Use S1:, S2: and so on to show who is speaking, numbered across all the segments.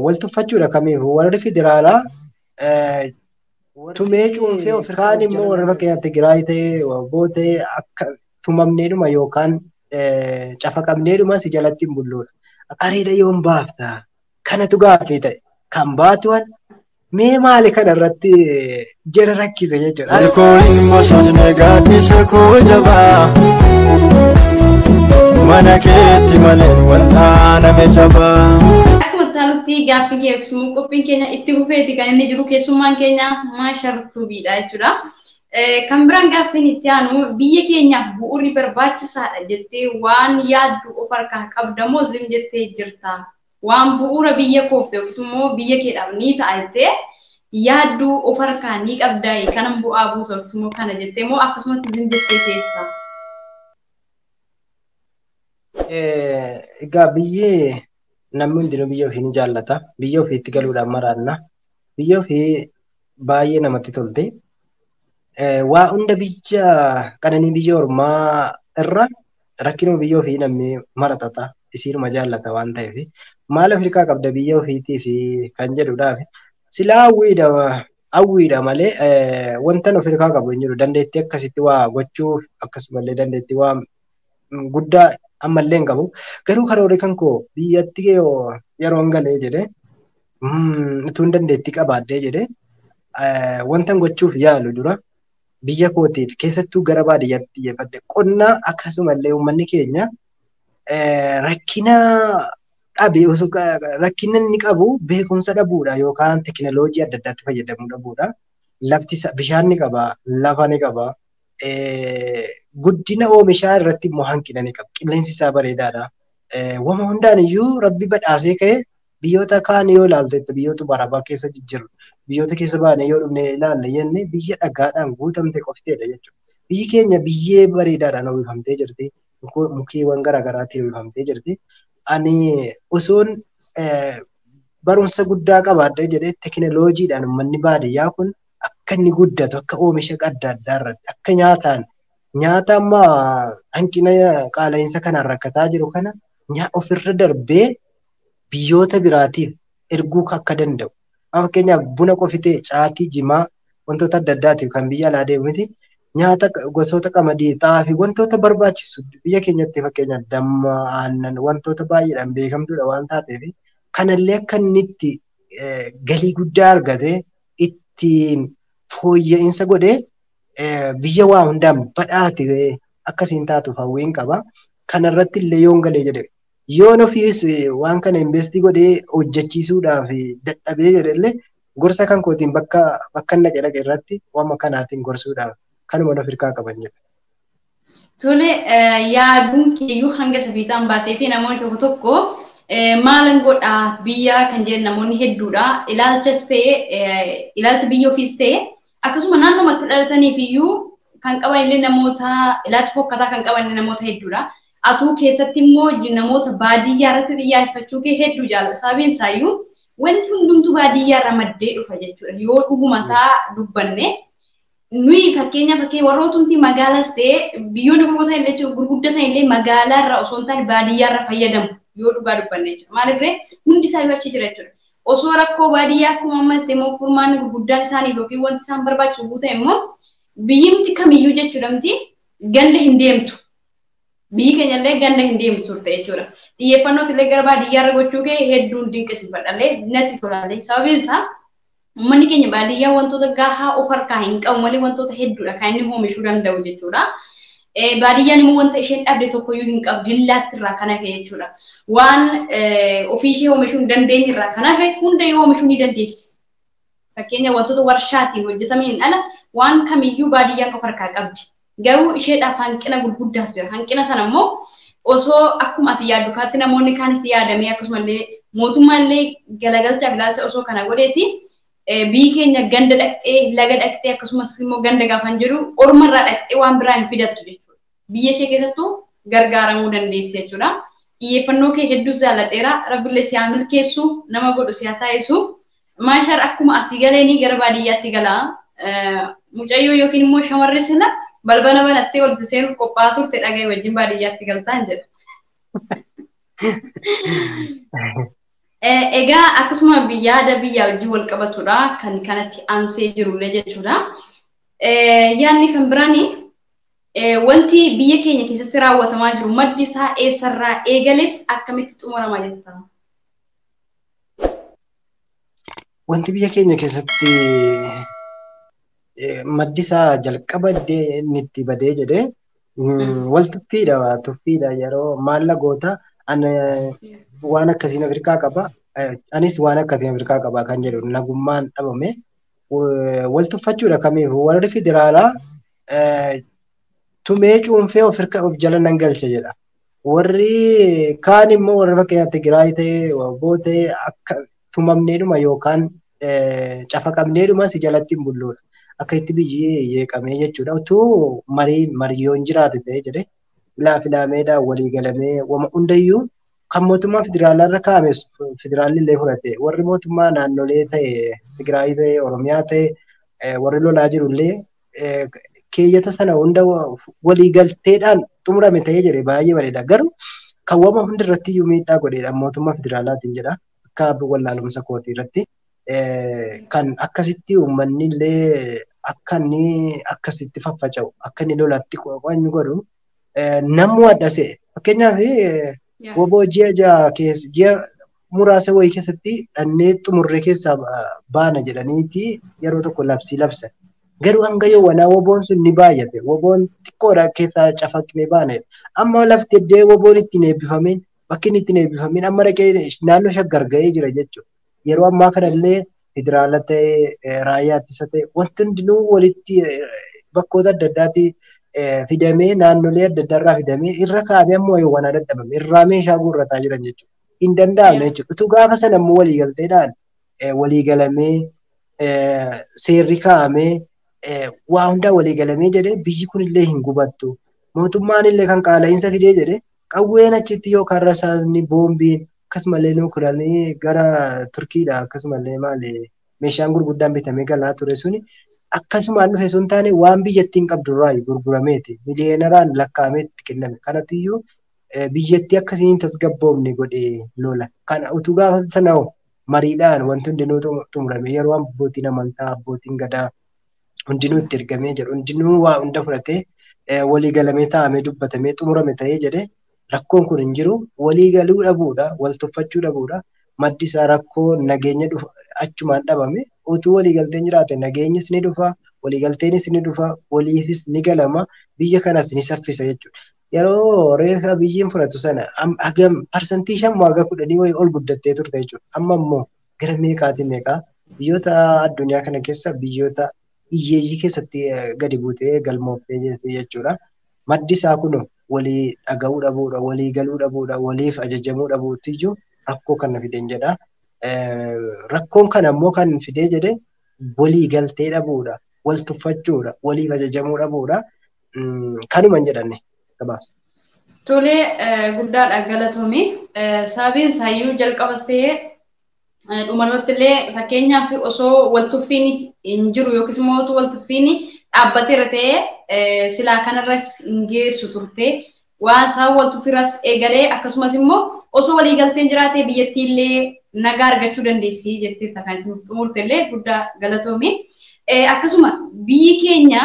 S1: wal tuffachuudha kamiifuu warri federaalaa tumee cuunfee of kaan immoo warra fakkeenyaaf Tigraay ta'ee Waboo ta'ee akka tumamneedhuma yookaan cafaqamneedhuma si jalatti hin bulluudha. Areeda yoon baafta kanatu gaaffii ta'e kan baatuwan Mee maali kana irratti jara rakkise jechuudha. Harkoo hin bososne
S2: gaaddisa koo jabaa. Mana keetti maleen wal'aaname jabaa. Akkuma taanutti
S3: gaaffii kee yookiis immoo qophiin keenya itti fufeeti kan inni jiru keessummaan keenya maashar tuubiidha jechuudha. Kan biraan gaaffiin itti aanu biyya keenyaaf bu'uurri barbaachisaadha jettee waan yaaddu of harkaa qabda moo zim jettee jirta Waan bu'uura biyya koof ta'e yookiis immoo biyya keedhaaf ni ta'a jettee yaaddu of harkaa ni qabdaayi? Kanan bu'aa buusa yookiis immoo kana jettee moo akkasumatti zim jettee teessa?
S1: Egaa biyyi namni hundinuu biyya ofii ni jaallata. Biyya ofiitti galuudhaaf maraanna. Biyyi ofii baay'ee namatti tolti. Waa hunda biyya qananii biyya ormaa irra rakkinuma biyya ofii namni mara xaxa isiinuma jaallata waan ta'eef maal of hirkaa qabda biyya ofiitiif kan jedhudhaaf silaa hawwiidha hawwiidha malee wantan of hirkaa qabu hin jiru dandeettii akkasitti waa gochuuf akkasumallee dandeettii waa guddaa ammallee hin qabu garuu karoorri kan koo biyyatti yeroon galee jedhe utuun dandeettii qabaadhee jedhe wantan gochuuf yaalu dura biyya kootiif keessattuu gara baadiyyaatti xiyyeeffadhe qonna akkasumallee uummanni keenya rakkina dhabe osoo rakkina inni qabu beekumsa dhabuudha yookaan teekinooloojii adda addaatti fayyadamuu dhabuudha. Lafti bishaan ni qaba, lafa ni qaba, guddina oomishaa irratti immoo hanqina ni qaba. Qilleensi isaa bareedaadha. Wama hundaan iyyuu rabbi badhaasee ka'e Biyyoota kaan yoo ilaalte biyyoota barabaa keessa jijjiru biyyoota keessa baanee yoo dhufne ilaalle jenne biyya dhagaadhaan guutamte qofteedha jechuudha. Biyyi keenya biyyee bareedaadhaan uwwifamtee jirti. Mukeewwan garaagaraatiin uwwifamtee jirti. Ani osoon barumsa guddaa qabaadhee jedhee tekinoloojiidhaan uummanni baadiyyaa kun akka inni guddatu akka oomisha adda addaa irratti akka nyaataan nyaata amma hanqina qaala'insa kanaan rakkataa jiru kana ofirra darbee biyyoota biraatiif erguu akka danda'u amma fakkeenyaaf buna qofitee caatii jimaa wantoota adda addaatiif kan biyya alaa deemu miti nyaata gosoota qamadii xaafii wantoota barbaachisu biyya keenyatti fakkeenyaaf damma aannan wantoota baay'eedhaan beekamtuudha waan taateef kanallee akka inni itti galii guddaa argate ittiin fooyya'insa godhee biyya waa hundaan badhaate akkasiin taatuuf hawwiin qaba. Kanarratti illee yoon galee jedhe Yoon ofiis waan kana investii godhee hojjechiisuudhaaf dadhabee jedhellee gorsa kan kootiin bakka bakka dhaqe dhaqe irratti wama kanaatiin gorsuudhaaf kanuma of hirkaa qaban jedha. Tole
S3: yaaduun keeyyuu hanga safiixaan baasee fi namoonni tokko tokko maalan godha biyyaa kan jedhan namoonni hedduudha. Ilaalchas ta'e ilaalcha biyya ofiis ta'e akkasuma naannoo matti dhalataniif iyyuu kan qaban illee namoota ilaalcha fokkataa kan qaban namoota hedduudha. Atuu keessatti immoo namoota baadiyyaa irratti xiyyaayeffachuu kee hedduu jaalladha. Sababiin isaayyuu wanti hundumtuu baadiyyaa irraa maddee dhufa jechuudha. Yoo dhuguma isaa dubbanne nuyi fakkeenya fakkee warrootumti magaalaas ta'ee biyyoonni gurguratan illee jechuudha gurguddatan illee magaalaa irraa osoo hin taane baadiyyaa irraa fayyadamu yoo dhugaa dubbanne jechuudha. Maaliif ree hundi isaa yoo achi jira jechuudha. Osoo rakkoo baadiyyaa akkuma amma ta'e immoo furmaanni gurguddaan isaaniif yookiin wanti isaan barbaachisu guutan immoo biyyimti kamiyyuu jechuudha miti ganda hin deemtu. Biyyi keenya illee ganda hin deemtu turte jechuudha. Xiyyeeffannoo illee gara baadiyyaa irra gochuu kee hedduun dinqisiifadha illee natti tola illee. Sababiin isaa uummanni keenya baadiyyaa wantoota gahaa of harkaa hin qabu malee wantoota hedduudha kan inni oomishuu danda'u jechuudha. Baadiyyaan immoo wanta isheen dhabde tokkoyyuu hin qabdu dillaatti irraa kan hafe jechuudha. Waan ofii ishee oomishuu hin dandeenye irraa kan hafe hunda yoo oomishuu ni dandeessi. Fakkeenya wantoota warshaatiin hojjetameen ala waan kamiyyuu baadiyyaan of harkaa qabdi. Garuu isheedhaaf hanqina gurguddaatu jira. Hanqina sana immoo osoo akkuma ati yaaddu kaatti namoonni kaanis yaadamee akkasumallee mootummaallee galagalchaaf ilaalcha osoo kana godheeti biyyi keenya ganda dhaqxee laga dhaqxee akkasumas immoo ganda gaafan jedhu orma irraa dhaqxee waan biraa hin fidattu jechuudha. Biyya ishee keessattuu gargaaramuu dandeessi jechuudha. Xiyyeeffannoo kee hedduus jaalladheera. Rabbillee si haa milkeessu nama godhu si haa taasisu. Maashar akkuma asii galeeni gara baadiyyaatti gala. Mucayyoo yookiin immoo shamarri sila balbala banattee walitti seenuuf qophaa'aa turte dhaga'i wajjin baadiyyaatti galtaan jedha. Egaa akkasuma yaada biyyaa wajjin wal qabatudha kan kanatti aansee jirullee jechuudha. Yaadni kan biraan wanti biyya keenya keessatti raawwatamaa jiru maddi isaa eessarraa eegales akkamitti xumurama jettaa?
S1: Wanti biyya keenya keessatti maddi isaa jalqaba inni itti badee jedhee wal tuffiidha waa tuffiidha yeroo maalla goota waan akkasiin Afrikaa qaba anis waan akkasiin Afrikaa qaba kan jedhu nagummaan dhabame wal tuffachuudha kamiif warri federaalaa tumee cuunfee of jala nan galcha jedha. Warri kaan immoo warra fakkeenyaaf Tigraay ta'e, Waboo ta'e akka tumamneedhuma yookaan cafaqamneedhuma si jalatti hin bulluudha. Akka itti biyyi yeeqamee jechuudha. Utuu marii mariyoon jiraate ta'e jedhee filaa filaameedhaan walii galamee wama hundayyuu kan mootummaa federaalaa irra kaa'ame federaalli illee fudhate warri mootummaa naannolee ta'e Tigraay ta'e Oromiyaa ta'e warri lolaa jiru illee keeyyata sana hunda waliigalteedhaan xumurame ta'ee jedhe baay'ee bareeda. Garuu kan wama hundi irratti iyyuu miidhaa godheedha mootummaa federaalaatiin jedha akka wallaalumsa kootii irratti. Kan akkasitti uummanni illee akka inni akkasitti faffaca'u akka inni lolatti qo'anyu godhu namuu adda se'e. Fakkeenyaaf woboo ji'a ja'a keessa ji'a muraasa wayii keessatti dhannee xumurree keessaa baana jedhaniiti yeroo tokko labsii labsan. Garuu hanga yoo wanaa woboon sun ni baay'ate woboon xiqqoodha keessaa cafaqnee baana. Amma lafti iddoo woboon ittiin eebbifameen bakki inni ittiin eebbifameen amma dhaqee naannoo shaggar ga'ee jira jechuudha. Yeroo ammaa kanallee federaala ta'ee raayyaa ittisa ta'e wanti hundinuu walitti bakkoota adda addaati fidamee naannolee adda addaa irraa fidamee irra kaa'amee ammoo yoo wanaa dadhabame irraa meeshaa guurrataa jiran jechuudha. hin danda'amne jechuudha. Utuu gaafa sana immoo waliigalteedhaan waliigalamee seerri kaa'amee waa hundaa waliigalamee jedhee biyyi kunillee hin gubattu. Mootummaan illee kan qaala'iinsa fidee jedhee qawween achitti yookaan rasaasni boombiin akkasumallee nuukiranii gara Turkiidha akkasumallee maali meeshaan gurguddaan bitamee galaa ture suni akkasumaan dhufe sun taane waan biyyattiin qabdu irraa gurgurameeti miliyeenaraan lakkaa'amee itti kenname kanatiyyuu biyyattii akka isiin tasgabboofne godhe lola. Kana utuu gaafa sana hoo mariidhaan wanti hundinuu xumurame yeroo abbootiin amantaa abbootiin gadaa hundinuu itti ergamee jedhu hundinuu waa hunda fudhatee walii galamee taa'amee dubbatamee xumurame ta'ee jedhe rakkoon kun hin jiru walii galuu dhabuudha wal tuffachuu dhabuudha maddi isaa rakkoo nageenya dhufa achumaan dhabame utuu walii galteen jiraate nageenyis ni dhufa walii galteenis ni dhufa waliifis ni galama biyya kanas ni saffisa jechuudha. yeroo reefa Abiyyiin fudhatu sana hagam parsantii shan moo haga kudhanii wayii ol guddattee turte jechuudha. Amma immoo gara meeqaatii meeqaa biyyoota addunyaa kana keessa biyyoota hiyyeeyyii keessatti gadi buutee galmooftee jirti jechuudha. Maddi isaa kun walii dhaga'uu dhabuudha, walii galuu dhabuudha, waliif ajajamuu dhabuutiyyuu rakkoo kana fideen jedha. Rakkoon kana immoo kan fidee jedhee walii galtee dhabuudha, wal tuffachuudha, waliif ajajamuu dhabuudha. kanuman jedhanne gabaabsa. Tole
S3: guddaadha galatomi. Sababiin isaayyuu jalqabas ta'ee dhumarratti illee fakkeenyaaf osoo waltuffiin hin jiru yookiis immoo utuu waltuffiin dhaabbateera ta'ee silaa kanarras hin geessu turte. Waan isaan waltuffiirras eegalee akkasumas immoo osoo waliigalteen jiraatee biyyattii illee nagaa argachuu dandeessi jettee takkaatti nuuf xumurte illee guddaa galatoomi. Akkasuma biyyi keenya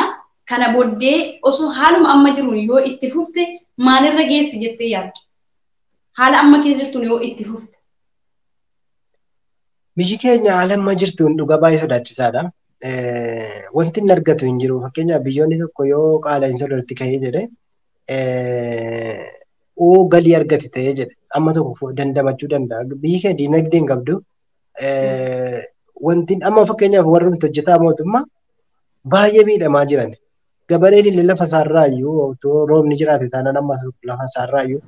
S3: Kana boddee osoo haaluma amma jiruun yoo itti fufte maalirra geessi jettee yaadda? Haala amma keessa jirtuun yoo itti fufte.
S1: Biyyi keenya haala amma jirtuun dhuga baay'ee sodaachisaadha. Wanti inni argatu hin jiru. Fakkeenyaaf biyyoonni tokko yoo qaala'insa irratti ka'ee jedhe oo galii argate ta'ee jedhe amma tokko dandamachuu danda'a. Biyyi keenya diinagdee hin qabdu. wanti amma fakkeenyaaf warri nuti hojjetaa mootummaa baay'ee miidhamaa jiran. Gabareen illee lafa isaarraayyuu otoo roobni jiraate taanaan ammas lafa isaarraayyuu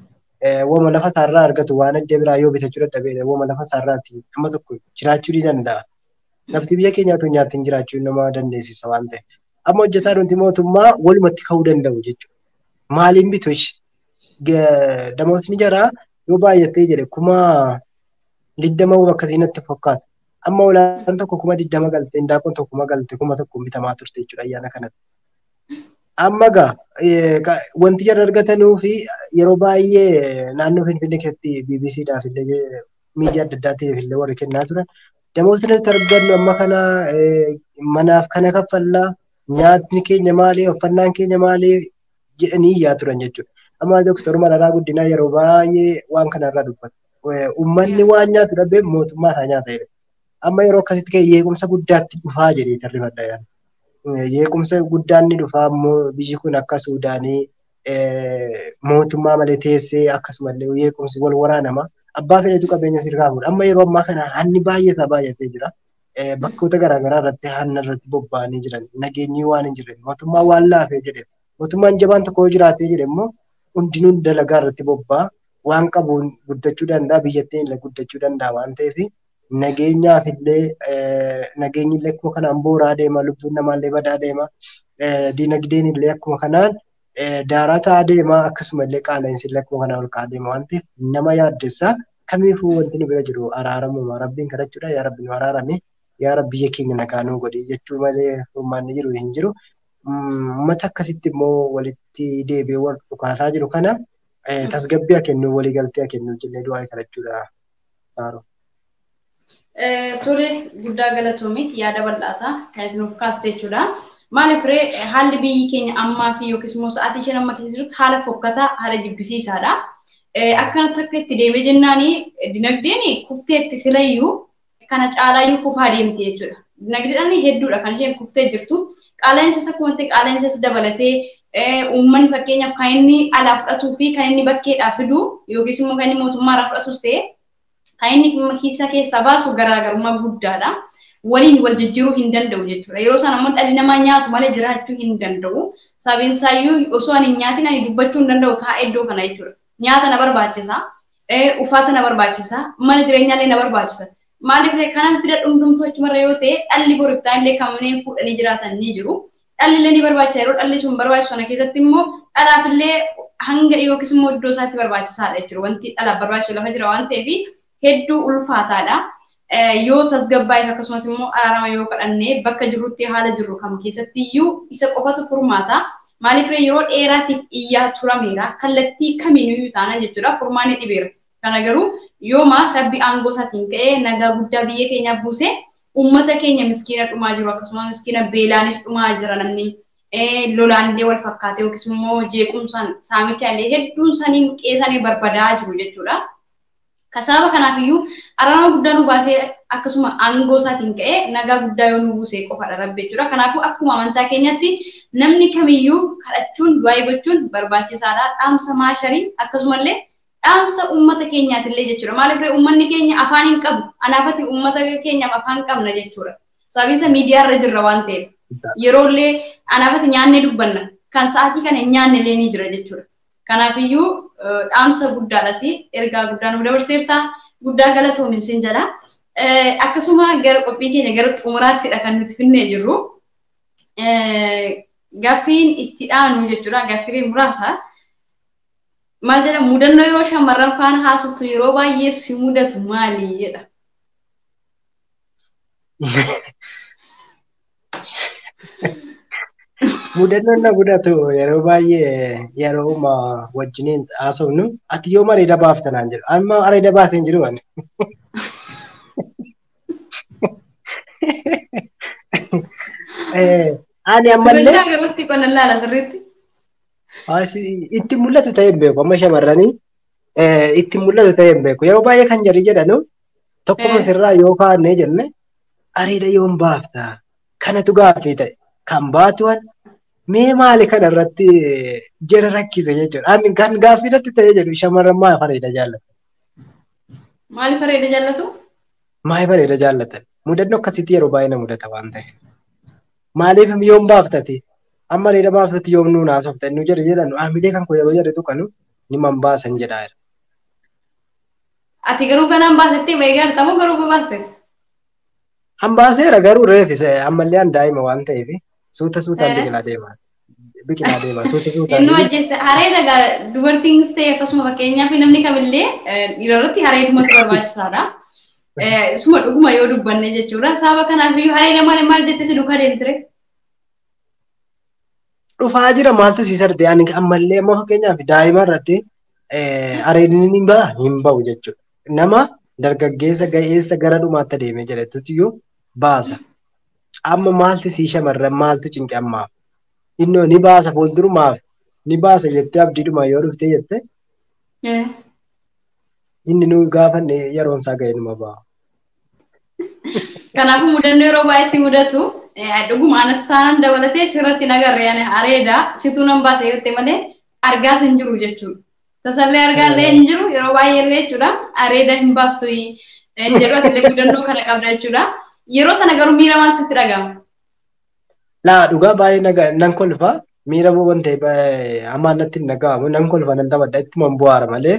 S1: wama lafa isaarraa argatu waan adda biraa yoo bitachuu dadhabee wama lafa isaarraati amma tokko jiraachuu ni danda'a. Lafti biyya keenyaatu nyaatiin jiraachuu nama dandeessisa waan ta'eef. Amma hojjetaa nuti mootummaa walumatti ka'uu danda'u jechuudha. Maaliin bitu ishee? Damoosni jaraa yoo baay'attee jedhe kuma digdama hoo akkasii natti fakkaata. Amma olaanaan tokko kuma digdama galte, indaaqoon tokko kuma galte, kuma tokko bitamaa turte jechuudha ayyaana kanatti. Amma egaa eh, ka- wanti jarri argatanuu fi yeroo baay'ee naannoo Finfinnee keessatti BBC dhaaf illee miidiyaa adda addaatiif illee warri kennaa turan. Damoosni nuti argannu amma kana eh, manaaf kana kaffallaa, nyaatni keenya maali, uffannaan keenya maali jedhanii iyyaa turan jechuudha. Amma Dooktar Mararaa Guddinaa yeroo baay'ee waan kanarraa dubbata. ummanni waan nyaatu dhabee mootummaa isaa nyaata jedhe. Amma yeroo akkasitti ka'e yeequmsa guddaatti dhufaa jedhee tarrifadha yaada. Yeequmsa guddaan ni dhufaa immoo biyyi kun akka Suudaanii mootummaa malee teessee akkasumallee yeequmsi wal waraanama. Abbaa fedhetu qabeenya sirraa fuudha. Amma yeroo ammaa kana hanni baay'ataa baay'atee jira. Bakkoota garaagaraa irratti hanna irratti bobba'anii jiran. Nageenyi waan hin jirre mootummaa waan laafee jedhe. Mootummaan jabaan tokko yoo jiraatee jedhe immoo hundinuu dalagaa irratti bobba'a. waan qabuun guddachuu danda'a biyyattiin illee guddachuu danda'a waan ta'eef nageenyaaf illee nageenyi illee akkuma kanaan booraa deema lubbuun namaa illee badaa deema dinagdeen illee akkuma kanaan daaraa ta'aa deema akkasuma illee qaala'insi illee akkuma kanaan ol ka'aa deema waan ta'eef nama yaaddessa kamiifuu wanti nu bira jiru araaramuma rabbiin kadhachuudha yaa rabbi nu araarame yaa rabbi biyya keenya nagaa nuu godhi jechuu malee furmaanni jiru hin jiru. Uummata akkasitti immoo walitti deebi'ee wal dhukaasaa jiru kana Eh, tasgabbii haa kennu walii galtee haa kennu jennee du'aa kadhachuudha Saaro.
S3: Eh, Tole guddaa galatoomi yaada bal'aata kan isin of kaaste jechuudha. Maaliif ree eh, haalli biyyi keenya ammaa fi yookiis immoo sa'aatii isheen amma keessa jirtu haala fokkataa haala jibbisiisaadha. Eh, Akkanatti akka itti deemee jennaani eh, dinagdeen kufteetti silayyuu kana caalaayyuu kufaa deemti jechuudha. Dinagdeedhaan hedduudha kan isheen kuftee jirtu. Qaala'insa isa kumattee qaala'insa isa dabalatee uummanni fakkeenyaaf kan inni alaa fudhatuu fi kan inni bakkeedhaa fidu yookiis immoo kan inni mootummaa irraa fudhatus ta'e kan inni kiisa keessaa baasu garaagarummaa guddaadha. Waliin wal jijjiiruu hin danda'u jechuudha. Yeroo sana immoo dhalli namaa nyaatu malee jiraachuu hin danda'u. Sababiin isaayyuu osoo ani hin nyaatin ani dubbachuu hin danda'u taa'ee iddoo kana jechuudha. nyaata na barbaachisa, uffata na barbaachisa, mana jireenyaallee na barbaachisa. Maaliif kanan fida dhumdumtuu achumarra yoo ta'e dhalli boriif taa'illee kanneen fuudhanii jiraatan ni jiru. Dhallillee ni barbaachisa yeroo dhalli sun barbaachisu sana keessatti immoo dhalaafillee hanga yookiis immoo iddoo isaatti barbaachisaadha jechuudha. Wanti dhalaaf barbaachisu lafa jira waan ta'eef hedduu ulfaataadha. Yoo tasgabbaa'eef akkasumas immoo araarama yoo kadhanne bakka jirrutti haala jirru kam keessatti iyyuu isa qofatu furmaata. Maaliif ree yeroo dheeraatiif iyyaa turameera. Kallattii kamiinuu taanaan jechuudha furmaanni dhibeera. Kana garuu yooma rabbi aangoo isaatiin ka'ee nagaa guddaa biyya keenyaa buuse uummata keenya miskiina dhumaa jiru akkasumas miskiina beelaanis dhumaa jira namni lolaanillee wal fakkaatee yookiis immoo jeequmsaan saamichaan illee hedduun isaanii qe'ee isaanii barbadaa jiru jechuudha. Ka sababa kanaaf iyyuu araarama guddaa nu baasee akkasuma aangoo isaatiin ka'ee nagaa guddaa yoo nuu buuse qofadha Rabbi jechuudha. Kanaafuu akkuma amantaa keenyatti namni kamiyyuu kadhachuun, du'aa'ii gochuun barbaachisaadha. Dhaamsa maasharii akkasumallee dhaamsa uummata keenyaatillee jechuudha. Maaliif ree uummanni keenya afaan hin qabu. Anaafati uummata keenyaaf afaan qabna jechuudha. Sababiin isaa miidiyaa irra jirra waan ta'eef. Yeroollee anaafati nyaannee dubbanna. Kan sa'aatii kana hin nyaannellee ni jira jechuudha. Kanaafiyyuu dhaamsa guddaadhas ergaa guddaa nuuf dabarseerta. Guddaa galatoomi sin jedha. Akkasuma gara qophii keenya gara xumuraattidha kan nuti finnee jirru. Gaffiin itti dhaanu jechuudha. Gaffiilee muraasa. Maal jedha mudannoo yeroo shamarran faana haasoftu yeroo baay'ee si mudatu maali jedha.
S1: Mudannoon na mudatu yeroo baay'ee yerooma wajjiniin haasofnu ati yoom areeda baafta naan jedhu. Amma areeda baatee hin jiru ani. Eh, Ani ammallee Sirreessaa garastii qonna laala
S3: sirriitti. Asi-
S1: itti mul'atu ta'e hin beeku amma shamarranii eh, itti mul'atu ta'e hin beeku yeroo baay'ee kan jedhi jedhanu tokkuma Eh. sirraa yoo kaanee jenne areeda yoom baafta kanatu gaaffii ta'e kan baatuwan mee maali kana irratti jara rakkise jechuudha. Ani kan gaaffii irratti ta'ee jedhu shamarran maaf areeda jaallatan?
S3: Maaliif areeda jaallatu? Maaliif areeda
S1: jaallatan? Mudannoo akkasiitti yeroo baay'ee na mudata waan ta'eef. Maaliif yoom baaftati? Amma areeda baaftati yoom nuun haasofta? Nu jedhe jedhan haamilee kan koo yeroo jedhe tuqanu ni man baasan jedhaa jira.
S3: Ati garuu ganaan baasettee ba'ee gaarta moo garuu babaaste?
S1: An baaseera garuu reefis ammallee an daa'ima waan ta'eef suuta suutaan Eh. biqilaa deema. Biqilaa deema suuta suutaan. Innuu ajjeessa. Haree
S3: dhagaa dubartiinis ta'e akkasuma fakkeenyaaf namni kamillee eh, dhiira irratti haree dhumatu barbaachisaadha. Eh, Suma dhuguma yoo dubbanne jechuudha. Sababa kanaaf iyyuu haree lamaan maal jette si duukaa deemtire?
S1: dhufaa jira maaltu si sarde ani ammallee amma fakkeenyaaf daa'ima irratti areedni ni ba'a hin ba'u jechuudha. Nama dargaggeessa ga'eessa gara dhumaatti adeemee jedhetutti iyyuu baasa. Amma maaltu sii shamarran maaltu cinqe ammaaf? Innoo ni baasa fuuldurumaaf ni baasa jettee abdiidhuma yoo dhuftee jettee inni nu gaafanne yeroon isaa ga'e numa ba'a.
S3: Kanaafuu mudannoo yeroo baay'ee si mudatu dhuguma anas taanan dabalatee sirratti nagarre ani areeda situu nan baasa yoo ta'e malee argaas hin jiru jechuudha. Tasallee argaa illee hin jiru yeroo baay'ee illee jechuudha areeda hin baastu hin jedhu ati illee mudannoo kana qabda jechuudha. Yeroo sana garuu miira maal sitti dhaga'ama?
S1: Laa dhugaa baay'ee nan kolfa miira waan ta'e hamaa natti hin dhaga'amu nan kolfa nan taphadha ittuma bu'aara malee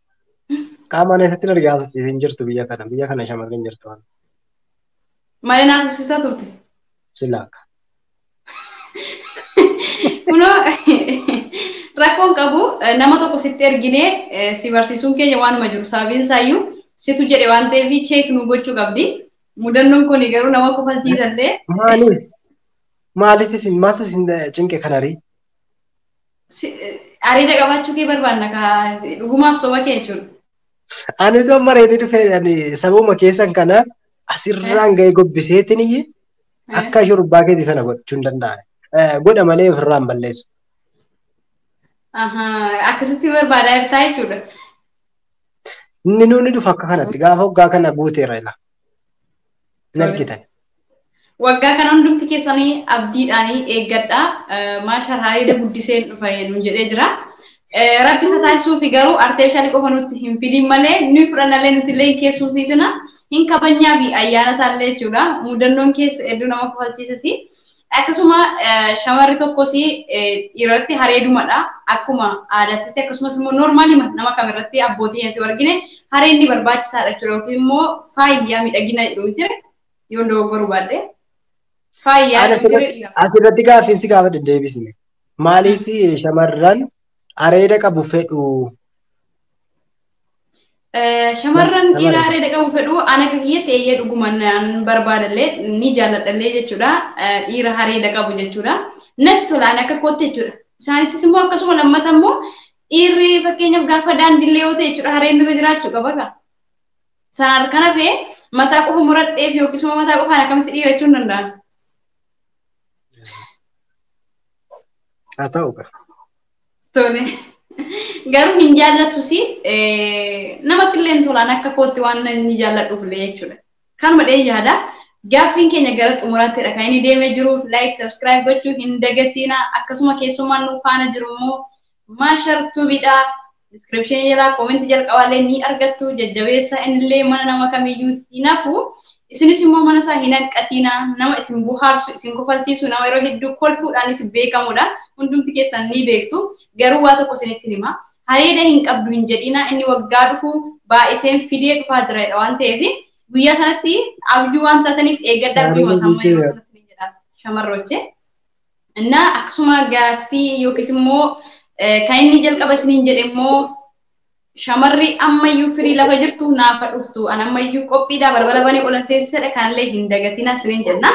S1: Qaama mana isatti nargaa sochiise hin jirtu biyya kana. Biyya kana shamarreen hin jirtu.
S3: Malee naa subsitaa turte. Silaaka. Kunoo rakkoon qabu nama tokko sitti erginee si barsiisuun keenya waanuma jiru sababiin isaayyuu situ jedhe waan ta'eef cheek nu gochuu qabdi. Mudannoon kun garuu nama kofalchiisallee. Maaliif?
S1: Maaliif isin maaltu isin cinqe kanarii? Si-
S3: Areeda qabaachuu kee barbaanna kaa dhugumaaf soba kee jechuudha. Ani osoo
S1: mareedii dhufee ani sabuma keessan kana asirraan ga'ee gobbiseetiin iyyi akka shurbaa keetii sana gochuu hin danda'an. Eh, Godha malee ofirraan balleessu. Ahaa,
S3: Akkasitti barbaadaa jirtaa jechuudha.
S1: Inni nuuni dhufa akka kanatti gaafa hoggaa kana guuteera ila. hin argitan.
S3: Waggaa kana hundumti keessanii abdiidhaanii eeggadha. Maashaal haareeda guddiseen dhufa nuun jedhee jira. Rabbi isa taasisuufi garuu arteefishaalii qofa nutti hin fidiin malee ni fudhannallee nuti illee hin keessumsiisina. Hin kabajnyaa fi ayyaana isaallee jechuudha. Mudannoon keessa hedduu nama kofalchiisisi. Akkasuma shamarri tokkos dhiirarratti hareedumadha. Akkuma aadaattis akkasumas immoo noormaali nama kamirratti abbootii nyaatu argine hareen ni barbaachisaadha jechuudha yookiin immoo faayyaa miidhagina jedhu miti yoo dogoggoruu baadde. Faayyaa asirratti gaaffiin si gaafadhe
S1: deebisne. Maaliif shamarran areeda qabu fedhu?
S3: Eh, Shamarran Shamarran. dhiiraa reeda qabu fedhu ana akka kiyyatti eeyyee dhuguma nan barbaadallee ni jaalladhallee jechuudha. Eh, Dhiira hareeda qabu jechuudha. Natti tola ana akka kootti jechuudha. Isaanittis immoo akkasuma lammata immoo dhiirri fakkeenyaaf gaafa daandiillee yoo ta'e jechuudha hareen irra jiraachuu qaba kaa. Saar kana fee mataa qofa muradheef yookiis immoo mataa qofaan akkamitti dhiira jechuun danda'an.
S1: Haa ta'u kaa. Tole.
S3: Garuu hin jaallatus namatti illee hin tolaan akka kootti waan inni jaalladhuuf illee jechuudha. Kanuma dhee yaada. Gaaffiin keenya gara xumuraattidha kan inni deemee jiru. Like, subscribe gochuu hin dagatiina. Akkasuma keessummaan nu faana jiru immoo Maashar Tubiidha. Diskiripshinii jalaa koomentii jalqabaallee ni argattu. Jajjabeessa innillee mana nama kamiyyuu hin hafu. Isinis immoo mana isaa hin hanqatiina. Nama isin bohaarsu, isin kofalchiisu, nama yeroo hedduu kolfuudhaanis beekamudha. Hundumti keessan ni beektu. Garuu waa tokko isinitti hima. Hareeda hin qabdu hin jedhiina. Inni waggaa dhufu baay'iseen fidee dhufaa jira jedha waan ta'eef guyyaa sanatti abjuu waan taataniif eeggadhaa guyyuma isaa yeroo sanatti ni jedha shamarroochee. Innaa akkasuma gaaffii yookiis immoo kan inni jalqaba isiniin jedhe immoo shamarri ammayyuu firii lafa jirtu naafa dhuftu an ammayyuu qophiidha balbala banee olan seesisadha kanallee hin dagatina isiniin jenna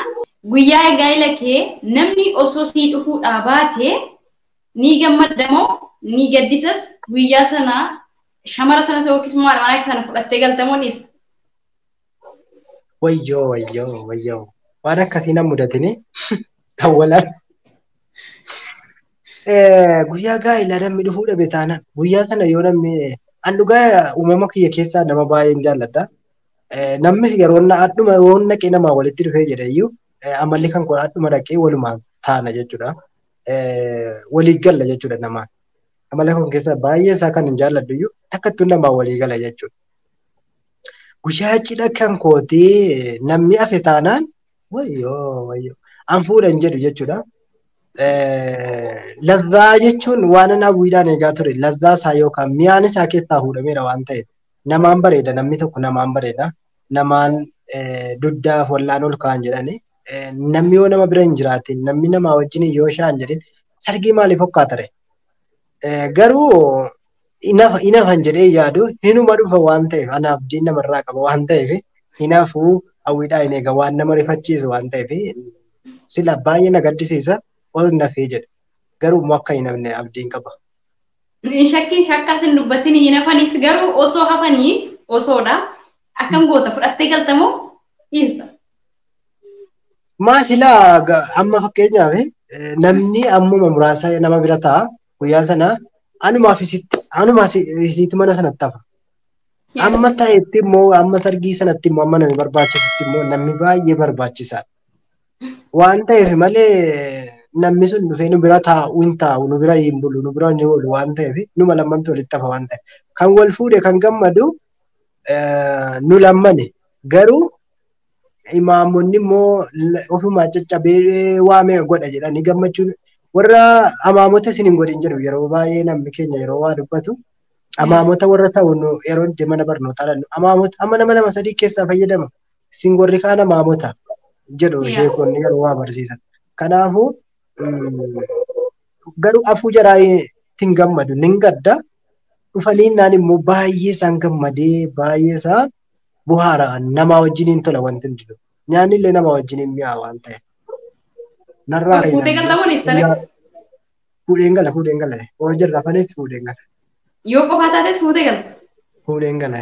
S3: guyyaa gaa'ila kee namni osoo sii dhufuudhaa baate ni gammadda moo ni gadditas guyyaa sana shamara sana yookiis immoo haadha manaa kee sana fudhattee galta moo dhiista Wayyoo
S1: wayyoo wayyoo waan akkasii na mudatini dawwalaan. Guyyaa gaa'ilaa namni dhufuu dhabe taanaan guyyaa sana yoo namni an dhugaa uumama kiyya keessaa nama baay'een jaalladha. Namnis yeroo hadhuma yoo naqee namaa walitti dhufee jedheyyuu amalli kan kun hadhuma dhaqee walumaan taana jechuudha. Walii galla jechuudha namaan. Amala kun keessaa baay'ee isaa kan hin jaalladhu iyyuu takkattuu namaa walii gala jechuudha. Guyyaa cidha kan kootee namni hafe taanaan wayyoo wayyoo an fuudha hin jedhu jechuudha. Lazzaa jechuun waan an hawwiidhaan eegaa ture lazzaa isaa yookaan mi'aan isaa keessaa fuudhameera waan ta'eef namaan bareeda namni tokko namaan bareeda namaan dugdaaf wallaan ol ka'an jedhanii namni yoo nama bira hin jiraatin namni namaa wajjin yoo shaan jedhin sargii maaliif hokkaatare? Garuu hinafan jedhee yaadu hinuma dhufa waan ta'eef anaaf diin namarraa qaba waan ta'eef hinafuu hawwiidhaa hin eega waan nama rifachiisu waan ta'eef sila baay'ee na gaddisiisa ol nafee jedhe garuu immoo akka hinafne abdiin qaba. Hin
S3: shakkin shakkaas hin dubbatin hin hafanis garuu osoo hafanii osoodha akkam goota fudhattee galtamoo dhiista. Maa
S1: silaa ga- amma fakkeenyaaf eh, namni ammuma muraasa nama bira ta'a guyyaa sana anumaa fi sitti anumaa si- fi sitti mana sanatti hafa. Yes. Amma ta'etti immoo amma sargii sanatti immoo amma namni barbaachisutti immoo namni baay'ee barbaachisaadha. Waan ta'eef malee namni sun dhufee nu bira taa'u hin taa'u nu bira hin bulu nu bira hin oolu waan ta'eef numa lammantu walitti hafa waan ta'eef. Kan wal fuudhe kan gammadu eh, nu lammani garuu imaamonni immoo ofumaa caccabee waamee godha jedhanii gammachuun warra amaamota isin hin godhin jedhu yeroo baay'ee namni keenya yeroo waa dubbatu amaamota warra ta'u yeroo itti mana barnootaa dhannu amaamota amma nama lama sadii keessaa fayyadama isin warri kaan amaamota jedhu sheekonni yeroo waa barsiisan kanaafuu garuu afuu jaraa ittiin gammadu nin gadda dhufanii naan immoo baay'ee isaan gammadee baay'ee isaa buhaara namaa wajjiniin tola wanti hundinuu. Nyaanni illee namaa wajjiniin mi'aa waan ta'eef. Narraa Dur fuutee galta moo
S3: dhiistare? Fuudheen
S1: gala fuudheen gala. Hoo jirra fanis fuudheen gala. Yoo qofaa taates
S3: fuutee galta. Fuudheen gala.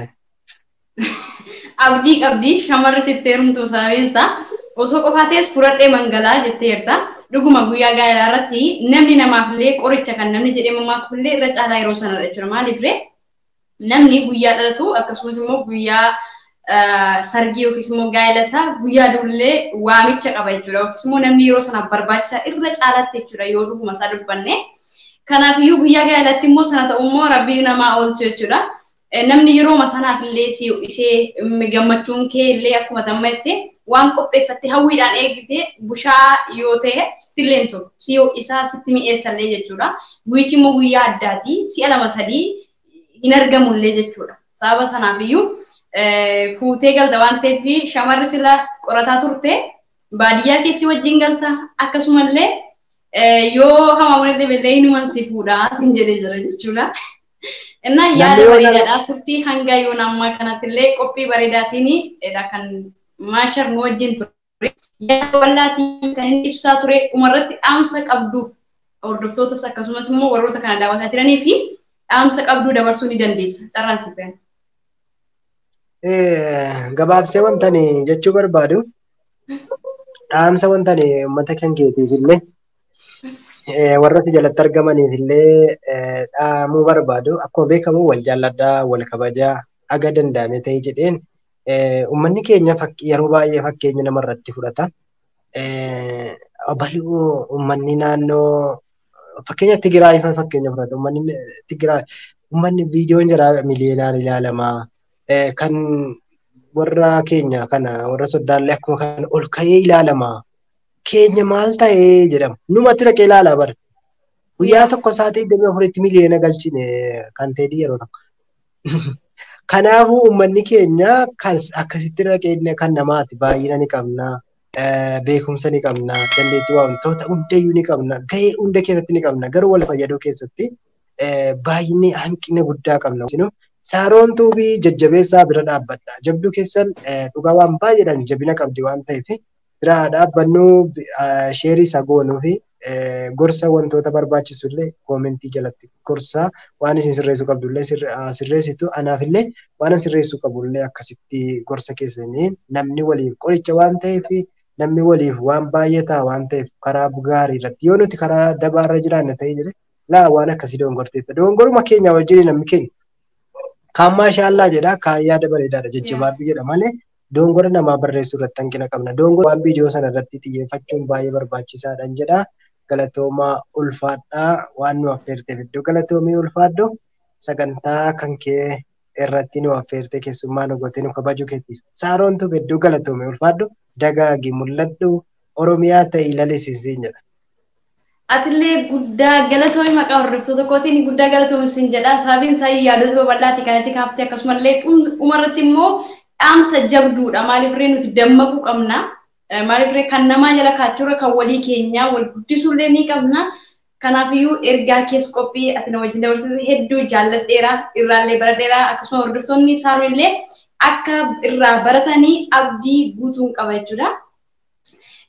S1: Abdii
S3: qabdi shamarri sitti heerumtu sababiin isaa osoo qofaa ta'es furadhee mangalaa jettee jirta. Dhuguma guyyaa gaa'elaa irratti namni namaaf illee qoricha kan namni jedhee mammaakuf illee irra caalaa yeroo sanadha jechuudha. Maaliif ree? Namni guyyaa dhalatu akkasumas immoo guyyaa sargii yookiis immoo gaa'ela isaa guyyaa duullee waamicha qaba jechuudha. Yookiis immoo namni yeroo sanaaf barbaachisaa irra caalaatti jechuudha yoo dhuguma isaa dubbanne. Kanaaf iyyuu guyyaa gaa'elatti immoo sana ta'u immoo rabbii namaa oolchu jechuudha. Namni yerooma sanaaf illee si ho'isee gammachuun kee illee akkuma tamma jettee waan qopheeffatte hawwiidhaan eegite bushaa yoo ta'e sitti illee hin tolu. Si ho'isaa sitti mi'eessa illee jechuudha. Guyyichi immoo guyyaa addaati. Si'a lama sadii hin argamullee jechuudha. Sababa sanaaf iyyuu fuutee galta waan ta'eef shamarri sila qorataa turte baadiyyaa keetti wajjin galta akkasumallee yoo hamaamuna dhibellee hinuman si fuudha sin jedhee jira jechuudha. Innaa yaada bareedaadhaa turtii hanga yoona ammaa kanattillee qophii bareedaatiin kan maashar nu wajjin ture. yaada bal'aa ta'e kan inni ibsaa ture dhumarratti dhaamsa qabduuf hordoftootas akkasumas immoo warroota kana daawwataa jiranii fi dhaamsa qabduu dabarsuu ni dandeessa. Carraan siif kenna.
S1: Gabaabsee wanta ani jechuu barbaadu dhaamsa wanta ani uummata kan keetiif illee warra si jalatti argamaniif illee dhaamuu barbaadu akkuma beekamu wal jaalladhaa wal kabajaa haga danda'ame ta'e jedheen Uummanni keenya yeroo baay'ee fakkeenya namarratti fudhata. Bal'oo uummanni naannoo fakkeenya Tigraay fa'a fakkeenya fudhata. Uummanni Tigraay uummanni viidiyoon jaraa miliyoonaan ilaalama. Kan warra keenya kana warra soddaallee akkuma kana ol ka'ee ilaalama. Keenya maal ta'ee jedhama. Numatu dhaqee ilaala bar. Guyyaa tokko sa'aatii 24tti miliyoona galchine kan ta'e yeroo tokko. Kanaafuu uummanni keenya kan akkasitti irra keenya kan namaati baay'ina ni qabna. Beekumsa ni qabna. Dandeettii wantoota hundayyuu ni qabna. Gahee hunda keessatti ni qabna. Garuu wal fayyaduu keessatti baay'inni hanqina guddaa qabna. Saaroon Tuubii jajjabeessaa bira dhaabbadha. Jabduu keessan dhugaa waan baay'eedhaan jabina qabdi waan ta'eef bira haa dhaabbannu sheerii isa goonuu fi gorsa wantoota barbaachisu illee koomentii jalatti gorsa waan isin sirreessuu qabdu illee sirreessitu anaaf illee waan sirreessuu qabu illee akkasitti gorsa keessanii namni waliif qoricha waan ta'eef namni waliif waan baay'ataa waan ta'eef karaa gaarii irratti yoo nuti karaa dabaa irra jiraanne ta'ee jedhe laa waan akkasii doongorteetta doongoruma keenya wajjin namni keenya kaan maashaallaa jedha kaan yaada bareedaadha jajjabaadhu jedha malee Doongora namaa barreessuu irratti hanqina qabna. Doongoraan viidiyoo sana irratti xiyyeeffachuun baay'ee barbaachisaadhan jedha. Galatoomaa ulfaadhaa waan nu affeerteef hedduu galatoomii ulfaadhu. Sagantaa kan kee irratti nu affeertee keessummaa nu gootee nu kabajuu keetiif. Saaroon Tuub hedduu galatoomii ulfaadhu. Dagaagi mul'adhu. Oromiyaa ta'i lalisi siin jedha. Atillee
S3: guddaa galatoomi maqaa hordoftoota kootiin guddaa galatoomi sin jedha. Sababiin isaa yaadota babal'aati kan itti kaaftee akkasumallee dhuma irratti immoo dhaamsa jabduudha. Maaliif ree nuti dammaquu qabna. Maaliif ree kan namaa jala kaachuurra kan walii keenyaa wal guddisuullee ni qabna. Kanaafiyyuu ergaa kees qophii ati na wajjin dabarsite hedduu jaalladheera. Irraallee baradheera. Akkasuma hordoftoonni isaanillee akka irraa baratanii abdii guutuun qaba jechuudha.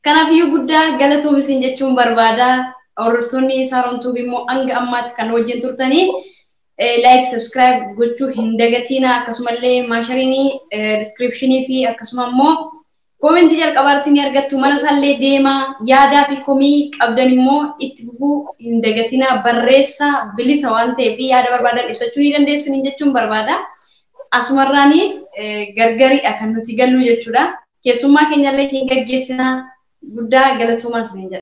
S3: Kanaafiyyuu guddaa galatoomi isin jechuun barbaada. Hordoftoonni Saaroon Tuubi immoo hanga ammaatti kan wajjin turtanii like, subscribe gochuu hin dagatiina akkasumallee maashariinii descriptionii fi akkasuma immoo koomentii jalqabaa irratti ni argattu mana isaallee deemaa yaadaa fi komii qabdan immoo itti fufuu hin dagatiina barreessaa bilisa waan ta'eef yaada barbaadan ibsachuu ni dandeessu jechuun barbaada. asumarraani gargariidha kan nuti galluu jechuudha. Keessummaa keenyallee hin gaggeessina. Guddaa galatoomaa isiniin jedha.